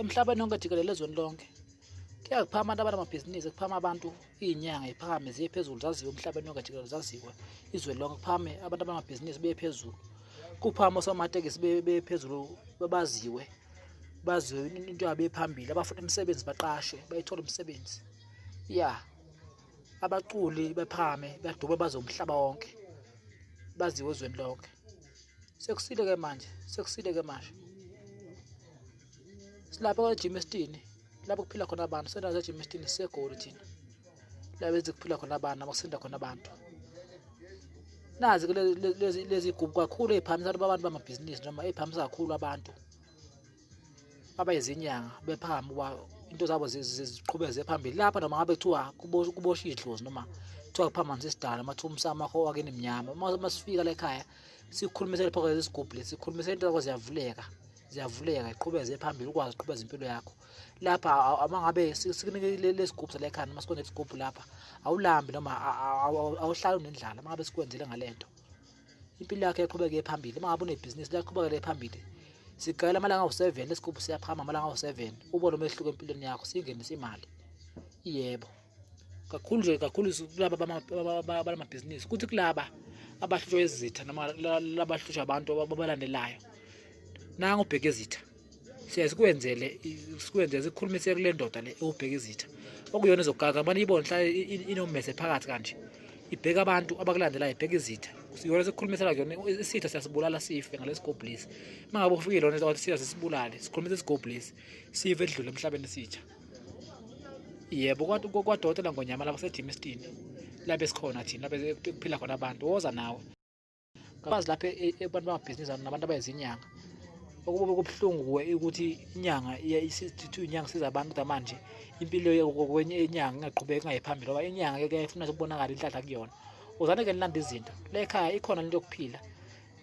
emhlabeni wonke jikelele ezweni lonke kuyazi phama abantu abanamabhizinisi kuphama abantu iy'nyanga iphakame ziye phezulu zaziwe emhlabeni wonke jikelele zaziwe izwe lonke kuphame abantu abanamabhizinisi beye phezulu kuphama osomatekisi beye phezulu babaziwe baziwe into yabo ephambili abafuna imisebenzi baqashwe bayithola umsebenzi ya abaculi bephakame badume bazomhlaba wonke baziwe ezweni lonke sekusile ke manje sekusile ke manje silapha kwejim esitini lapho kuphila khona abantu sendawo zejim esitini sisegoli thina lapho ezikuphila khona abantu nabo kusinda khona abantu nazi ke lezi gubu kakhulu ey'phamisa abantu bamabhizinisi noma ey'phamisa kakhulu abantu abayizinyanga bephambi uba into zabo ziqhubeze phambili lapha noma ngabe kuthiwa kubosha idlozi noma kuthiwa kuphambanisa isidala mathiwa umsamo wakho wakini mnyama uma sifika la ekhaya sikhulumisele phakathi isigubhu lesi sikhulumisele into zakho ziyavuleka ziyavuleka iqhubeze phambili ukwazi uqhubeza impilo yakho lapha uma ngabe sikunike lesigubhu sala ekhaya noma sikwenze isigubhu lapha awulambi noma awuhlali unendlala uma ngabe sikwenzile ngale nto impilo yakhe iqhubeke phambili uma ngabe unebhizinisi liyaqhubekele phambili sigayela amalanga awu-7 lesigubhu siyaphakama amalanga awu-7 ubone umehluko empilweni yakho singenisa imali yebo kakhulu nje kakhulu kulaba balamabhizinisi kuthi kulaba abahlutshwa izitha noma labahlutshwa abantu ababalandelayo nangu ubheke izitha siye sikwenzele sikwenzele sikhulumise kule ndoda le ewubheka izitha okuyona ezogaka mane ibone hlale inommese phakathi kanje ibheka abantu abakulandelayo ibheka izitha yona sekukhulumisela kuyona isitha siyasibulala sife ngalesigobhulisi uma ngabe ufike lona wathi sitha sisibulale sikhulumise isigobhulisi sife edlule emhlabeni isitha yebo kwadokotela ngonyama lapho sejimistini labe sikhona thina labe kuphila khona abantu woza nawe kabazi lapha e, e, abantu bamabhizinisi nabantu abayizinyanga okube kubuhlungu kuwe ukuthi inyanga isithu inyanga siza abantu ukuthi manje impilo kwenye inyanga ingaqhubeki ingayi phambili ngoba inyanga ke kuyayifuna ukubonakala inhlahla kuyona uzane ke nilanda izinto le khaya ikhona into yokuphila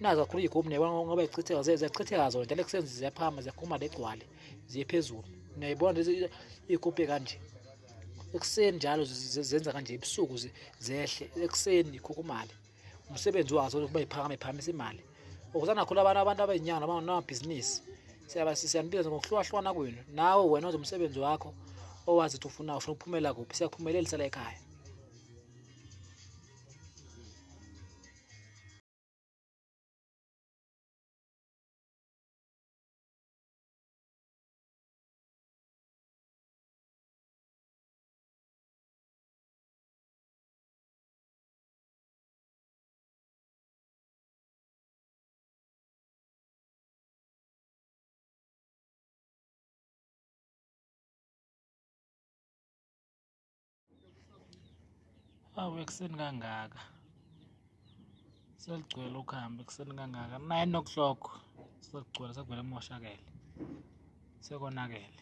nazo kakhulu iy'gubhu niyabona ngoba zichitheka ziyachitheka zona njalo kusenzi ziyaphama ziyakhuma legcwale ziye phezulu niyayibona iy'gubhe kanje ekuseni njalo zenza kanje ebusuku zehle ekuseni ikhukhumale umsebenzi wazo ukuba iphakame phakamisa imali ukuze nakhula abantu abantu abeyinyanga abanamabhizinisi siyanibiza ngokuhlukahlukana kwenu nawe wena oze umsebenzi wakho owazi ukuthi ufuna ufuna ukuphumela kuphi siyakuphumelelisa la ekhaya Awu ekuseni kangaka seligcwele ukuhamba ekuseni kangaka nine o'clock sekugcwele sekuvele kumoshakele sekonakele.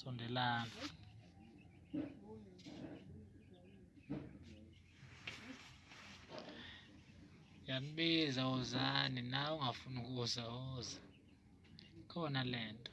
sondelana yanibiza wozani nawe ungafuni ukuza woza khona lento